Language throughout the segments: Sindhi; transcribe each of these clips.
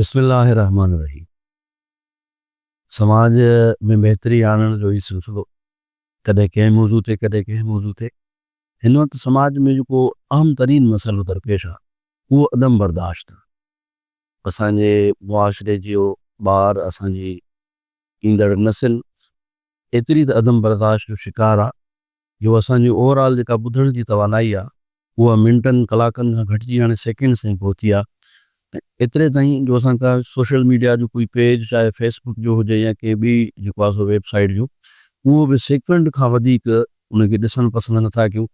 بسم الله الرحمٰن الرحيم سماج ۾ بهتري آڻڻ جو هي سلسلو ڪڏهن ڪنهن موضوع تي ڪڏهن ڪنهن موضوع تي هن وقت سماج ۾ جيڪو اهم ترين مسئلو درپيش آ اهو عدم برداشت آ اسان جي معاشري جيو ٻار اسان جي ايندڙ نسل ايتري ته عدم برداشت جو شڪار آ جو اسان جي اوور آل جيڪا ٻڌڻ جي توانائي آ اها منٽن ڪلاڪن کان گهٽجي هاڻي سيڪنڊز تائين پهتي آ ۽ ايتري تائين جو اسان ڪا سوشل ميڊيا جو ڪوئي پيج چاهي فيس بڪ جو هجي يا ڪنهن ٻي جيڪو آ سو ويب سائيٽ جو اهو به سيڪنڊ کان وڌيڪ ان کي ڏسڻ پسند نه ٿا ڪيون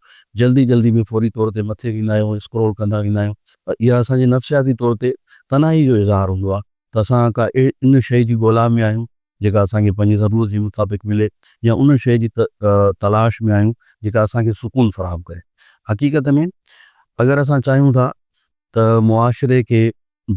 جلدي جلدي ۾ فوري طور تي مٿي ويندا آهيون اسڪرول ڪندا ويندا آهيون پر اها اسان جي نفسياتي طور تي تنهائي جو اظهار هوندو آ ته اسان ڪا ان شئي جي ڳولا ۾ آهيون جيڪا اسان کي پنهنجي ضرورت جي مطابق ملي يا ان شيء جي تلاش ۾ آهيون جيڪا اسان کي سڪون فراهم ڪري. حقيقت ۾ اگر اسان چاهيون ٿا ته معاشري کي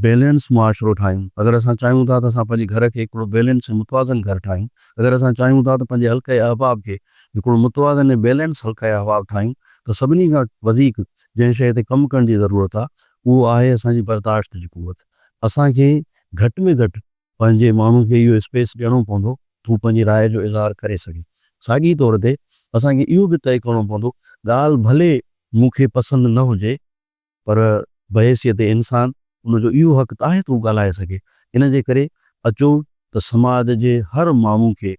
بيلنس معاشرو ٺاهيون، اگر اسان چاهيون ٿا ته اسان پنهنجي گهر کي هڪڙو بيلنس ۽ متوازن گهر ٺاهيون، اگر اسان چاهيون ٿا ته پنهنجي حلقه احباب کي هڪڙو متوازن ۽ بيلنس حلقه احباب ٺاهيون ته سڀني کان وڌيڪ جنهن شيء تي ڪم ڪرڻ جي ضرورت آهي اهو آهي اسان جي برداشت جي قوت. اسان کي گهٽ ۾ گهٽ پنهنجي ماڻهن کي اهو اسپيس ڏيڻو پوندو ته هو پنهنجي راء جو اظهار ڪري سگهي. ساڳئي طور تي اسان کي اهو به طئي ڪرڻو پوندو ڳالهه ڀلي مون کي پسند نه هجي پر بحيثيت انسان ان جو اهو حق ته آهي ته هو ڳالهائي سگهي. ان جي ڪري اچو ته سماج جي هر ماڻهو کي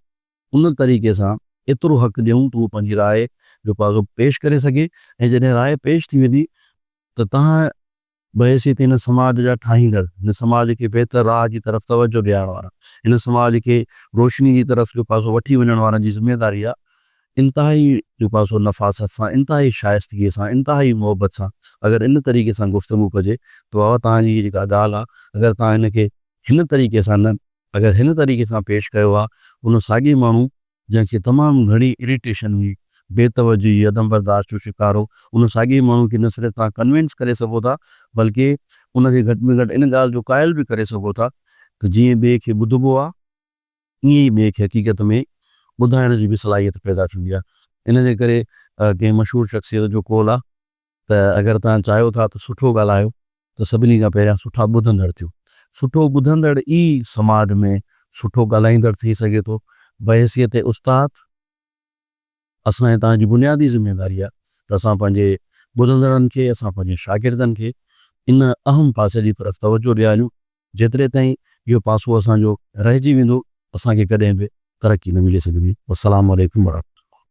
ان طريقي سان ايترو حق ڏيون ته هو پنهنجي راء جو پاڳ پيش ڪري سگهي ۽ جڏهن راء پيش ٿي ويندي ته تنهن بحيثيت هن سماج جا ٺاهيندڙ، هن سماج کي بهتر راهه جي طرف توجهه ڏيارڻ وارا، هن سماج کي روشني جي طرف جو پاسو وٺي وڃڻ وارن جي ذميواري اها انتهائي جو پاسو نفاست سان، انتهائي شائستگيء سان، انتهائي محبت سان اگر ان طريقي سان گفتگو ڪجي ته بابا توهان جي هيء جيڪا ڳالهه آ اگر توهان ان کي هن طريقي سان نه اگر هن طريقي سان پيش ڪيو ها ان ساڳئي ماڻهو جنهن کي تمام گهڻي اريٽيشن هئي، بي توجهي، عدم برداشت جو شڪار هو، ان ساڳئي ماڻهو کي نه صرف توهان ڪنوينس ڪري سگهو ٿا، بلڪه ان کي گهٽ ۾ گهٽ ان ڳالهه جو قائل به ڪري سگهو ٿا ته جيئن ٻئي کي ٻڌبو آهي، ائين ئي ٻئي کي حقيقت ۾ ٻڌائڻ جي به صلاحيت پيدا ٿيندي آهي، ان جي ڪري ڪنهن مشهور شخصيت جو قول آهي. ته اگر توهان چاهيو ٿا ته سٺو ڳالهايو ته سڀني کان پهريان سٺا ٻڌندڙ ٿيو. سٺو ٻڌندڙ ئي سماج ۾ سٺو ڳالهائيندڙ ٿي سگهي ٿو. بحيثيت استاد اسان ۽ توهان جي بنيادي ذميواري آهي ته اسان پنهنجي ٻڌندڙن کي، اسان پنهنجي شاگردن کي ان اهم پاسي جي طرف توجهه ڏياريون. جيتري تائين اهو پاسو اسان جو رهجي ويندو اسان کي ڪڏهن به ترقي نه ملي سگهندي. والسلام عليڪم ورحمة الله.